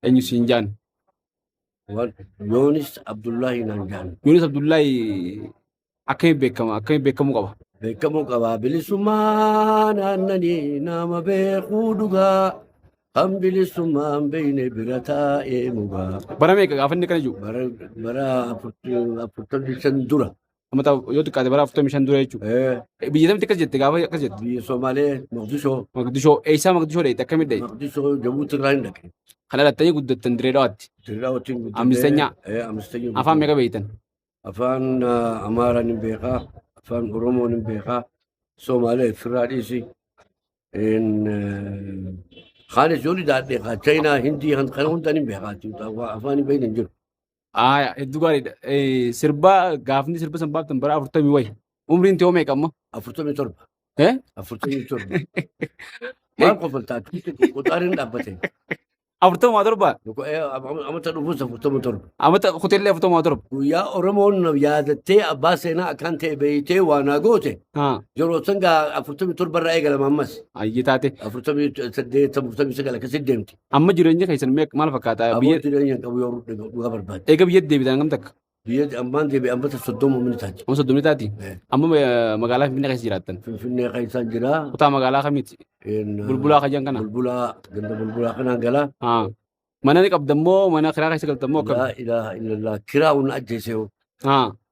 Eenyu siin jaan? Wal- Yoonis Abdullahi naan jaan. Yoonis Abdullahi akkamiin beekama? Akkamiin beekamuu qaba? Beekamuu qaba bilisummaa naannanii nama beekuu dhugaa. Kan bilisummaa hin beekne bira taa'ee mugaa. Bara meeqa gaafa inni kana jiru? Bara bara afurtamii shan dura. Amata yoo xiqqaate bara 45 dura jechuudha. Eh, Biyya tamti akkas jette gaafa akkas jette. biyya Somaalee Moqdishoo Maqdishoo eessaa Maqdishoo dheeyte akkamit dheeyte? Moqdishoo Jabuuti irraa hin dhaqe. Kan dhalattanii guddattan dirree dhawaatti. Dirraa wajjin guddannee- Ammistenyaa? Eh, ammistenyaa Afaan guddannee. meeqa beeytan? Afaan ah, Amaaraan hin beekaa. Afaan Oromoon hin beekaa. Somaalee firraa dhiisi. In, eh, Kaan ijoolli daadhee kaa Chaayinaa Hindii kan kana hundaan hin beekaa. Afaan hin beekne hin jiru. Aaya hedduu gaariidha. Eh, Sirba gaafni sirba san baaftan bara afurtamii wayi. Umriin tiyoo meeqa amma? Afurtamii torba. Eh? Afurtamii torba. Maal kofaltaa? Qoxaariin dhaabbate. Afurtamaa torba? Amata dhufuus afurtama torba. Amata kuteellee afurtamaa torba. Guyyaa Oromoon na yaadattee abbaa seenaa akkaan ta'e beeytee waa naa goote. Haa. Yeroo san gaa afurtamii torba irraa eegalama ammas. Ayyee taate. Afurtamii saddeet, afurtamii sagal akkasii deemti. Amma jireenya keessan mee maal fakkaata? Aboo Biyya jireenya qabu yoo rudhe dhugaa barbaade. eega biyyatti deebitan hangam takka? Biyya ammaan deebi'e ammata soddoma umni taate. Amma soddomni taati. Eh. Amma eh, magaalaa Finfinnee keessa jiraattan. Finfinnee keessaan jira. Kutaa magaalaa kamiiti? Een, Bulbulaa kajan kana. Bulbulaa ganda bulbulaa kanaan galaa. Ah. Mana ni qabdan moo mana kiraa keessa galtan moo akkam? Laa ilaaha illallah kiraa hunna ajjeesee hoo. Ah.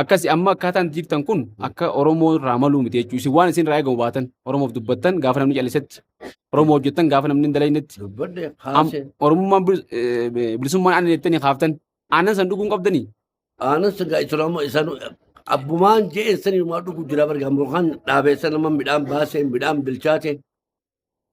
Akkasi amma akkaataan itti jirtan kun akka Oromoo irraa maluu miti jechuudha. Isin waan isin irraa eegamu baatan Oromoof dubbattan gaafa namni callisetti Oromoo hojjettan gaafa namni hin dalaynetti Dubbadde am- kaase. Oromummaan bilis- eh, eh, bilisummaan aannan jettanii kaaftan aannan san dhuguun qabdanii Aanas egaa islaama isaan abbumaan je'een saniimaa dhugu jira barga mukaan dhaabeessa nama midhaan baasee midhaan bilchaate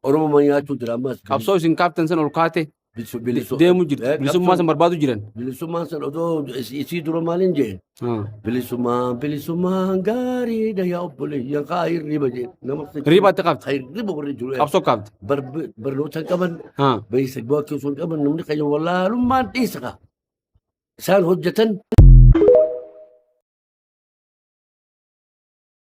Oromoo ma nyaachuu jira ammas. Qabsoo isin kaaftan san ol kaate Bilisu- bilisu- deemu jirti. Eh, Bilisummaa qabsoo- san barbaadu jiran. Bilisummaan san odoo is- isii dura maaliin jeen? Ah. Bilisummaa bilisummaan gaariidha yaa obboleeyyan kaa hirriba jeen. Nama Hirriba itti qabdi. Kaa hirriba warri jiru. Qabsoo kaafte. Barb- Barnoota hin qaban Ah. beeysa gochuu osoo hin qaban namni keenya wallaalummaan dhiisa kaa. Isaan hojjetan